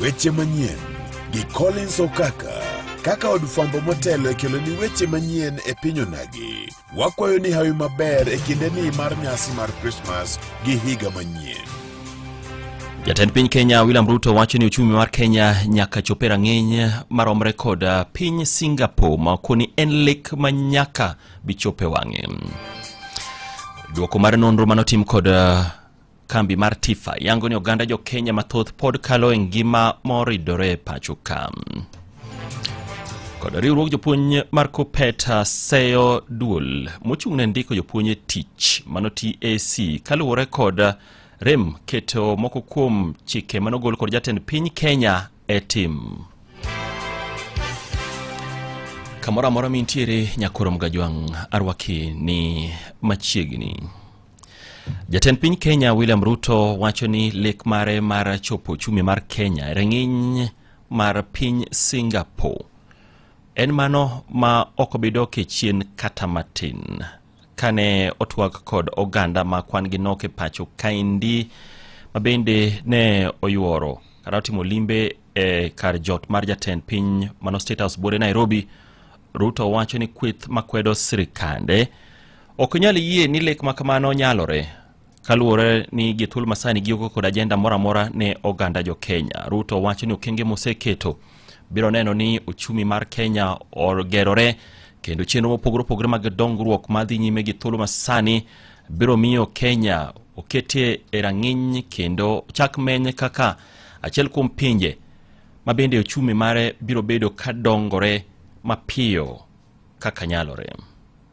Weche manyien gi Collins Okaka. Kaka od fwambo motelo e keloni weche manyien e piny onagi, wakwayo ni hawi maber e kinde ni mar nyasi mar Krismas gi higa manyien. Jatend piny Kenya William Ruto wacho ni uchumi mar Kenya nyaka chope rang'iny maromre kod uh, piny Singapore ma koni en lek ma nyaka bichope wang'e. Duoko mar nonro manotim kod uh, Kambi mar Tifa yango ni oganda jo Kenya mathoth pod kalo e ngima moridore e pacho ka. Kod riwruok jopuonj mar Kupet seyo duol mochung' ne ndiko jopuonj e tich mano TAC kaluwore kod rem keto moko kuom chike manogol kod jatend piny Kenya e tim. Kamoro amora mintiere nyakorom gajwang' arwaki ni machiegni. Jatend piny Kenya William Ruto wacho ni lek mare mar chopo uchumi mar Kenya e rang'iny mar piny Singapore en mano ma ok obidok e chien kata matin. Kane otwak kod oganda ma kwan gi nok e pacho kaendi ma bende ne oyuoro kata otimo limbe e kar jot mar jatend piny mano State House buore Nairobi, Ruto wacho ni kweth makwedo sirikande Ok nyal yie ni lek ma kamano nyalore kaluwore ni gi thuol masani gioko kod ajenda moro amora ne oganda jo Kenya. Ruto wacho ni okenge moseketo biro neno ni ochumi mar Kenya ogerore kendo chenro mopogore opogore mag dongruok madhi nyime gi thuolo masani biro miyo Kenya oketie e rang'iny kendo chak menye kaka achiel kuom pinje ma bende ochumi mare biro bedo ka dongore mapiyo kaka nyalore.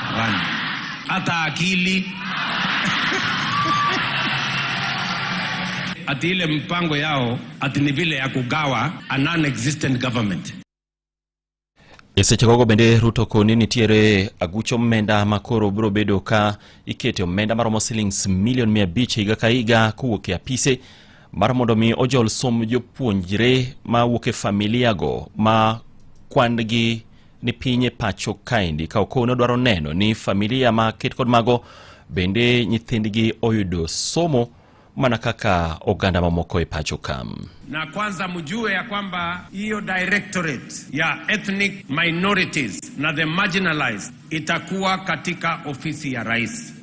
Hapana, hata akili ati ile mpango yao ati ni vile ya kugawa a non-existent government. E seche gogo bende Ruto koni nitiere aguch omenda ma koro biro bedo ka ikete omenda maromo silings milion mia abich higa ka higa kowuok e apise mar mondo mi ojol som jopuonjre ma wuok e familiago ma kwan gi ni piny e pacho kaendi ka okow ne odwaro neno ni familia ma ket kod mago bende nyithindgi oyudo somo mana kaka oganda mamoko e pacho ka. Na kwanza mjue ya kwamba hiyo directorate ya ethnic minorities na the marginalized itakuwa katika ofisi ya rais.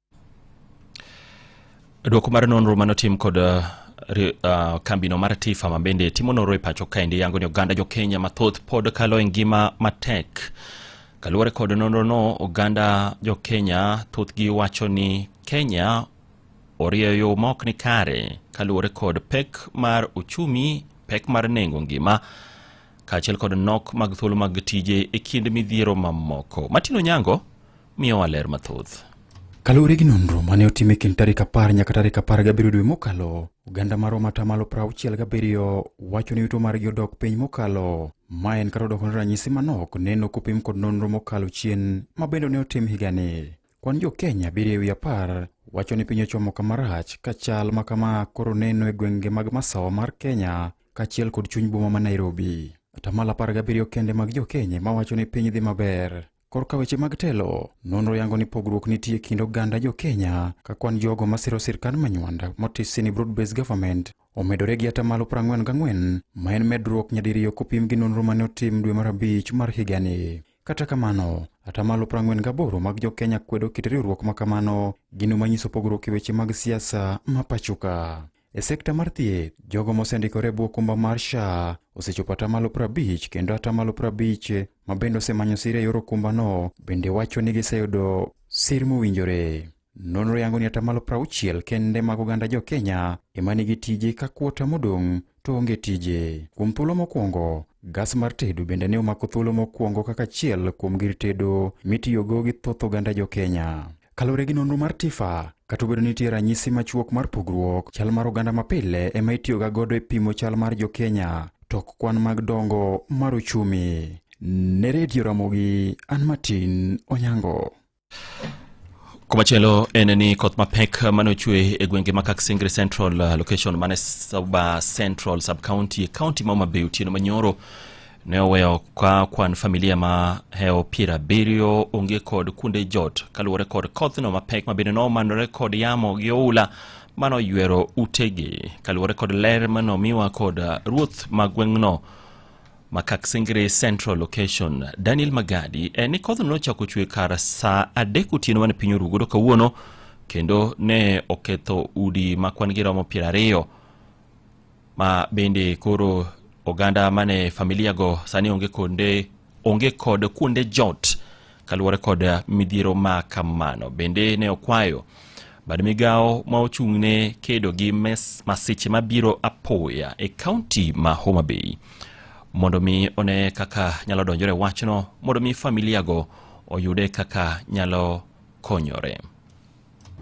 Dwoko mar nonro manotim kod uh, uh, kambino mar Tifa ma bende timo nonro e pacho kaendi yango ni oganda jo Kenya mathoth pod kalo e ngima matek. Kaluwore kod nonrono, oganda jo Kenya thothgi wacho ni Kenya orieyo yo ma ok ni kare kaluwore kod pek mar uchumi, pek mar nengo ngima kaachiel kod nok mag thuolo mag tije e kind midhiero mamoko. Martin Onyango miyowa ler mathoth. Kaluwore gi nonro mane otim e kind tarik apar nyaka tarik apar gabiriyo dwe mokalo, oganda mar Roma atamalo prauchiel gabiriyo wacho ni yuto margi odok piny mokalo. Ma en kata odoko ni ranyisi manok neno kopim kod nonro mokalo chien ma bende ne otim higani. Kwan jo Kenya abiriyo e wi apar wacho ni piny ochomo kama rach ka chal ma kama koro neno e gwenge mag masawa mar Kenya kaachiel kod chuny boma ma Nairobi. Atamalo apar gabiriyo kende mag jo Kenya ma wacho ni piny dhi maber. Korka weche mag telo, nonro yango ni pogruok nitie kind oganda jo Kenya ka kwan jogo masiro sirkand manywanda motisi ni broad based government omedore gi atamalo 44 ma en medruok nyadiriyo kopim gi nonro mane otim dwe mar abich mar higani. Kata kamano, atamalo 48 mag jo Kenya kwedo kit riwruok ma kamano, gino manyiso pogruok e weche mag siasa ma pachoka. E sekta mar thieth, jogo mosendikore bwo okumba mar SHA osechopo atamalo prabich kendo atamalo prabich ma bende osemanyo sir e yor okumbano bende wacho ni giseyudo sir mowinjore. Nonro yango ni atamalo prauchiel kende mag oganda jo Kenya ema nigi tije ka kuota modong' to onge tije. Kuom thuolo mokwongo, gas mar tedo bende ne omako thuolo mokwongo kaka achiel kuom gir tedo mitiyogo gi thoth oganda jo Kenya. Kaluwore gi nonro mar TIFA, kata obedo ni nitie ranyisi machuok mar pogruok, chal mar oganda mapile ema itiyoga godo e pimo chal mar jo-Kenya, tok kwan mag dongo mar uchumi. Ne redio Ramogi, an Martin Onyango. Kumachielo en ni koth mapek mane ochwe e gwenge ma Kaksingri Central uh, location mane Suba Central sub county county ma Homa Bay otieno manyoro ne oweyo ka kwan familia ma heo piero abiriyo onge kod kunde jot kaluwore kod kothno mapek mabende nomanore kod yamo gi oula mano ywero utegi kaluwore kod ler manomiwa kod ruoth ma gweng'no Makaksingri Central Location. Daniel Magadi en ni kodhno nochako chwe kar saa adek otieno mane piny oru godo kawuono kendo ne oketho udi ma kwan gi romo piero ariyo ma bende koro oganda mane familiago sani onge konde onge kod kuonde jot kaluwore kod midhiero ma kamano bende ne okwayo bad migawo ma ochung' ne kedo gi masiche mabiro apoya e kaunti ma Homa Bay mondo mi one kaka nyalo donjore wachno mondo mi familiago oyude kaka nyalo konyore.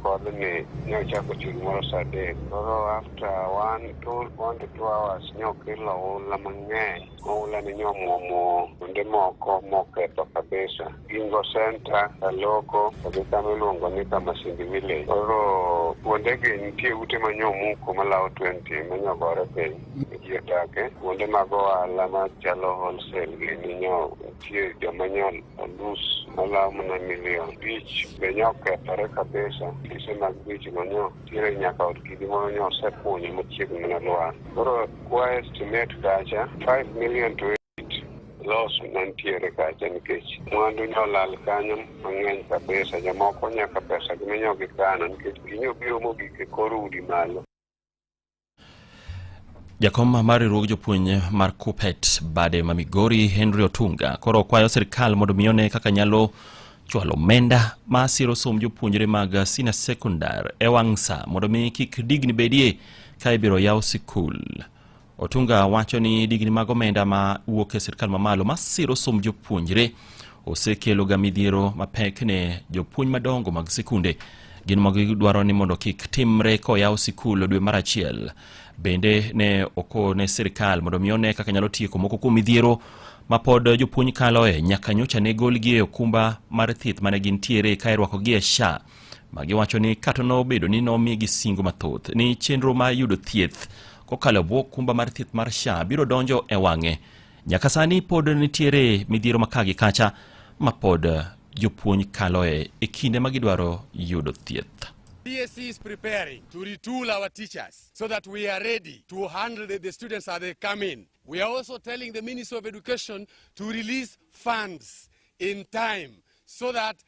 kodh ni ne ochako chun moro sa adek koro after one two one to two hours ne okelo oula mang'eny oula ne nyomwomo kuonde moko moketho kabisa gingo center kaloko kagi kama iluongo ni kamasindi village koro kuondegi nitie ute manyomuko malawo twenty manyogore piny ji odake kuonde mag ohala machalo wholesale gi ninyo nitie joma nyal nus malawo mana milion bich be nyo kethore kabisa kise mag bich ma nyo tire nyaka od kidi moro nyo osekunyo machiegni mana lwar koro kwa estimate kacha 5 million to los mantiere kacha nikech mwandu nyo lal kanyo mang'eny kabisa jomoko nyaka pesa gi minyo gikano nikech ginyo biro mogik e kor udi malo Jakom mar riwruog jopuonj mar Kupet bade ma Migori Henry Otunga koro okwayo sirkal mondo mi one kaka nyalo chwalo omenda ma siro somb jopuonjre mag senior secondary e wang' sa mondo mi kik digni bedie ka ibiro yaw sikul. Otunga wacho ni digni mag omenda ma wuok e sirkal mamalo ma siro somb jopuonjre osekeloga midhiero mapek ne jopuonj madongo mag sikunde Gin mago gidwaro ni mondo kik timre koyaw sikul dwe mar achiel. Bende ne okone sirkal mondo mi one kaka nyalo tieko moko kuom midhiero ma pod jopuonj kaloe nyaka nyocha ne golgi e okumba mar thieth mane gintiere ka irwakogi e SHA ma giwacho ni kata nobedo ni nomigi singo mathoth ni chenro ma yudo thieth kokalo bwo okumba mar thieth mar SHA biro donjo e wang'e Nyaka sani pod nitiere midhiero ma kagi kacha ma pod eh, jopuonj kaloe e kinde ma gidwaro yudo thieth. BSC is preparing to retool our teachers so that we are ready to handle the, the students as they come in. We are also telling the Ministry of Education to release funds in time so that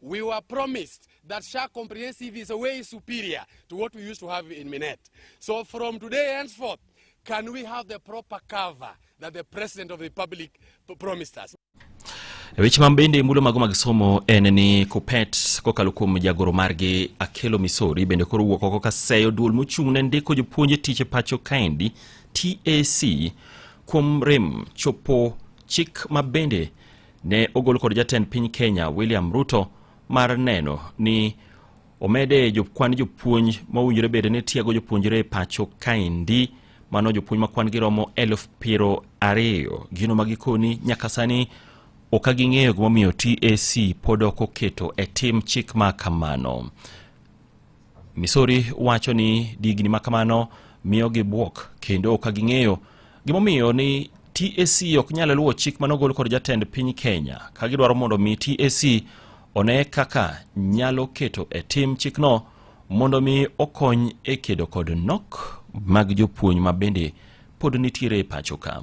We were promised that SHA comprehensive is a way superior to what we used to have in Minet. So from today henceforth, can we have the proper cover that the President of the Republic promised us? Weche ma bende mulo mago mag somo en ni Kupet kokalo kuom jagoro margi Akelo Misori bende koro wuok oko kaseyo duol mochung' ne ndiko jopuonje tich e pacho kaendi TAC kuom rem chopo chik ma bende ne ogol kod jatend piny Kenya William Ruto mar neno ni omede jokwan jopuonj mowinjore bede ni tiego jopuonjre e pacho kaendi mano jopuonj ma kwan giromo elf piero ariyo gino ma gikoni nyaka sani ok aging'eyo gimomiyo TAC pod ok oketo e tim chik ma kamano. Missouri wacho ni digni ma kamano miyo gibwok kendo ok ging'eyo gimomiyo ni TAC ok nyal luwo chik mane ogol kod jatend piny Kenya ka gidwaro mondo mi TAC one kaka nyalo keto e tim chikno mondo mi okony e kedo kod nok mag jopuonj ma bende pod nitiere e pacho ka.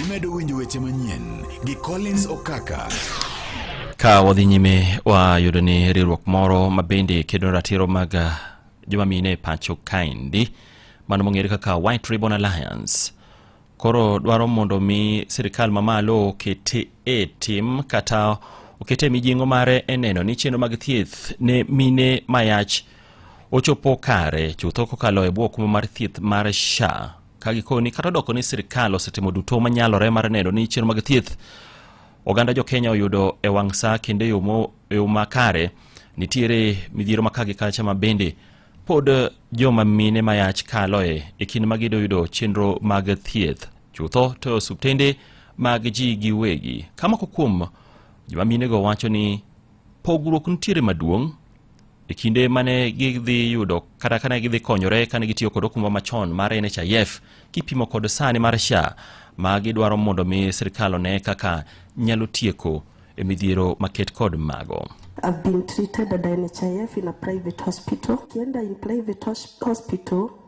Imedo winjo weche manyien gi Collins Okaka. Ka wadhi nyime wayudo ni riwruok moro ma bende kedo ratiro mag ah, joma mine e pacho kaendi mano mong'ere kaka White Ribbon Alliance koro dwaro mondo mi sirikal mamalo okete e tim kata okete e mijing'o mare e neno ni chenro mag thieth ne mine mayach ochopo kare chutho kokalo e bwo kuma mar thieth mar sha ka gikoni kata odoko ni sirikal osetimo duto manyalore mar neno ni chenro mag thieth oganda jo kenya oyudo e wang' sa kendo e yo mo- e yo makare nitiere midhiero ma kagi kacha ma bende pod joma mine ma yach kaloe e kinde ma gido yudo chenro mag thieth chutho to e osuptende mag ji giwegi ka moko kuom joma minego wacho ni Pogruok nitiere maduong' e kinde mane gidhi yudo kata kane gidhi konyore kane gitiyo kod okumba machon mar NHIF kipimo kod sani mar SHA ma gidwaro mondo mi sirkal one kaka nyalo tieko e midhiero maket kod mago. I've been treated at NHIF in a private hospital. Kienda in private hospital